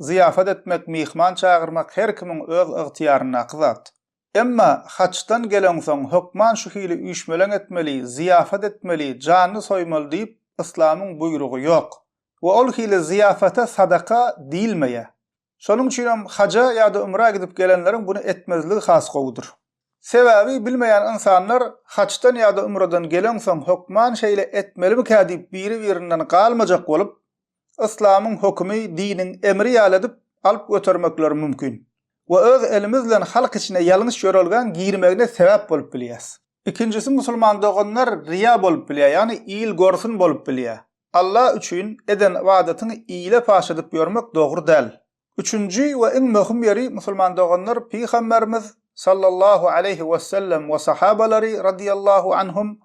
Zyýafat etmek, myhman çagyrmak her kimiň öz ygtyýaryndaky zat. Emma haçdan geleňsoň, hökman şu hili üýşmeleň etmeli, zyýafat etmeli, janyny soýmaly diýip, yslamyň buýrugy ýok. We ol hili zyýafata sadaka diýilmeýär. Şonuň üçin hem haja ýa-da ümrä gidip gelenleriň buny etmezligi has gowudyr. Sebäbi bilmeýän ynsanlar haçdan ýa-da ümreden geleňsoň hökman şeýle etmelimikä diýip biri-birinden galmajak bolup, Yslamyň hökümi diniň emri ýaly edip alyp götermekleri mümkin we öz elimiz bilen halk içine ýalňyş ýörelgäň girmegine sebäp bolup bilýäs. Ikinjisi musulman doganlar riýa bolup bilýär, ýagny il görsün bolup bilýär. Alla üçin eden ybadatyňy ile paş edip ýörmek dogry däl. Üçünji we iň möhüm ýeri, musulman doganlar, Pygamberimiz, sallallahu aleýhi wesellem, we sahabalary, radiýallahu anhum,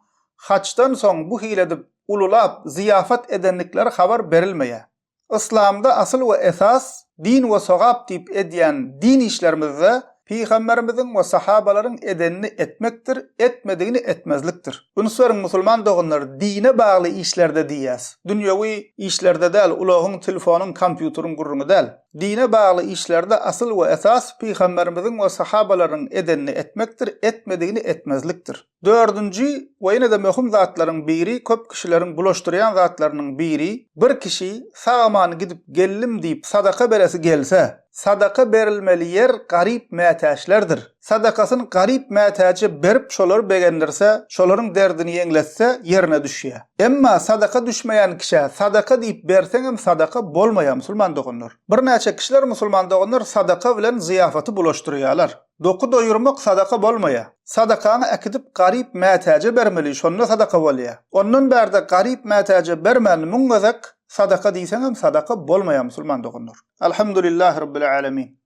hajdan soň bu hili edip, ululap, zyýafat edendikleri habar berilmeýär. Yslamda asyl we esas, din we sogap diýip edýän din işlerimizde Pygamberimiziň we sahabalaryň edenini etmekdir, etmedigini etmezlikdir. Üns beriň musulman doganlar, dine bagly işlerde diýýäs. Dünýewi işlerde däl, ulagyň, telefonyň, kompýuteriň gürrüňi däl. Dine bagly işlerde asyl we esas pygamberimiziň we sahabalaryň edenini etmekdir, etmedigini etmezlikdir. Dördünji we ýene-de möhüm zatlaryň biri köp kişileriň bulaşdyrýan zatlarynyň biri, bir kişi sag-aman gidip geldim diýip sadaka beresi gelse, sadaka berilmeli ýer garyp mätäçlerdir. Sadakasyny garyp mätäje berip şolary begendirse, şolaryň derdini ýeňletse ýerine düşýär. Emma sadaka düşmeýän kişä sadaka diýip berseňem sadaka bolmaýar musulman doganlar. Birnäçe kişiler musulman doganlar sadaka bilen zyýafaty bulaşdyrýarlar. Doky doýurmak sadaka bolmaýa. Sadakaňy äkidip garyp mätäje bermeli şonda sadaka bolýa. Ondan bärde garyp mätäje bermän müň gezek sadaka diýseňem sadaka bolmaýa musulman doganlar. Alhamdulillahi Rabbil Alemin.